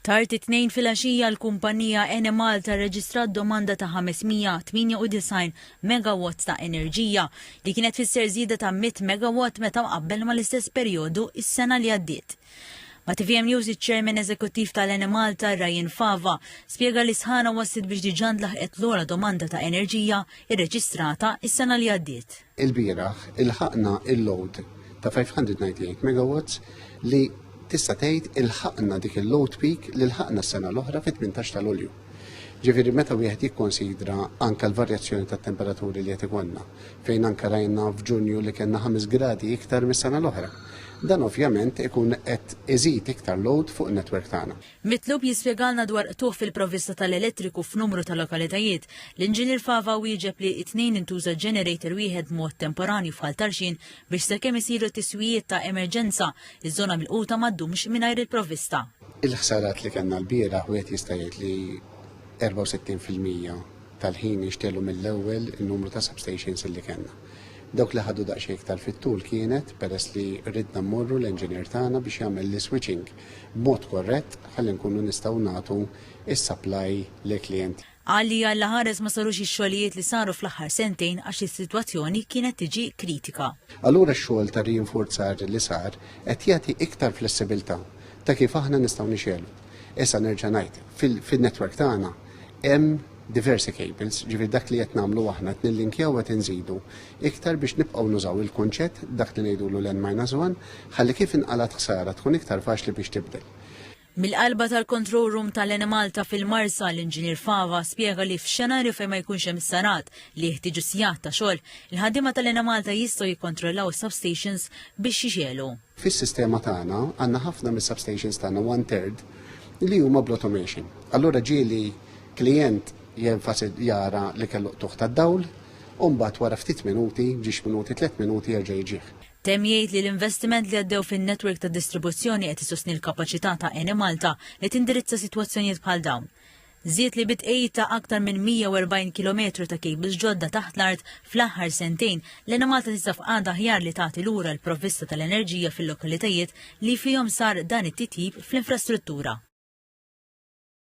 Tard it-Tnejn filgħaxija l-kumpanija Enemalta rreġistrat domanda ta' 598 megawatts ta' enerġija, li kienet tfisser żieda ta' 100 megawatt meta mqabbel mal-istess perjodu s-sena li għaddiet. Ma' tvm News iċ-Chairman Eżekuttiv tal-Enemalta, Ryan Fava, spjega li s-sħana wasslet biex diġà ntlaħqet l-ogħla domanda ta' enerġija rreġistrata s-sena li għaddiet. Ilbieraħ ilħaqna il-load ta' 598 megawatts li tista' tgħid ilħaqna dik il-load peak li lħaqna s-sena l-oħra fit-18 ta' Lulju. Ġifieri meta wieħed jikkonsidra anke l-varjazzjoni tat-temperaturi li qed ikollna, fejn anke rajna f'Ġunju li kellna 5 gradi iktar mis-sena l-oħra. Dan ovvjament ikun qed iżid iktar load fuq in-netwerk tagħna. Mitlub jispjegalna dwar qtugħ fil-provvista tal-elettriku f'numru ta' lokalitajiet, l-Inġinier Fava wieġeb li t-Tnejn intuża generator wieħed b'mod temporanju f'Ħal Tarxien biex sakemm isiru t-tiswijiet ta' emerġenza, iż-żona milquta ma ddumx mingħajr il-provvista. Il-ħsarat li kellna lbieraħ wieħed jista' jgħid li 64 fil-mija tal-ħin inxtegħlu mill-ewwel in-numru ta' substations li kellna. Dawk li ħadu daqsxejn iktar fit-tul kienet peress li ridna mmorru l-enġinier tagħna biex jagħmel l-iswitching b'mod korrett ħalli nkunu nistgħu nagħtu s-supply lill-klijenti. Qal li għall-aħares ma sarux ix-xogħlijiet li saru fl-aħħar sentejn għax is-sitwazzjoni kienet tiġi kritika. Allura x-xogħol ta' riinfurzar li sar qed jagħti iktar flessibilità ta' kif aħna nistgħu nixegħlu. Issa nerġa' ngħid, fin-network tagħna hemm diversi cables, ġifieri dak li qed nagħmlu aħna qed nillinkjaw qed inżidu iktar biex nibqgħu nużaw il-kunċett dak li ngħidulu l-N minus one ħalli kif inqalgħet ħsara tkun iktar faċli biex tibdel. Mill-qalba tal-Control Room tal-Enemalta fil-Marsa, l-Inġinier Fava spjega li f'xenarju fejn ma jkunx hemm is-sarat li jeħtieġu sigħat ta' xogħol, il-ħaddiema tal-Enemalta jistgħu jikkontrollaw is-substations biex jixegħlu. Fis-sistema tagħna għandna ħafna mis-substations tagħna one third li huma bl-automation. Allura ġieli klijent jenfasi jara li kellu tuħ tad-dawl, u mbagħad wara ftit minuti, ġiex minuti, tliet minuti jerġa' jiġih. Temm jgħid li l-investiment li għaddew fin-netwerk ta' distribuzzjoni qed isostni l-kapaċità ta' Enemalta li tindirizza sitwazzjonijiet bħal dawn. Żied li bi tqegħid ta' aktar minn 140 kilometru ta' kejbils ġodda taħt l-art fl-aħħar sentejn, l-Enemalta tinsab f'qagħda aħjar li tagħti lura l-provvista tal-enerġija fil-lokalitajiet li fihom sar dan it-titjib fl-infrastruttura.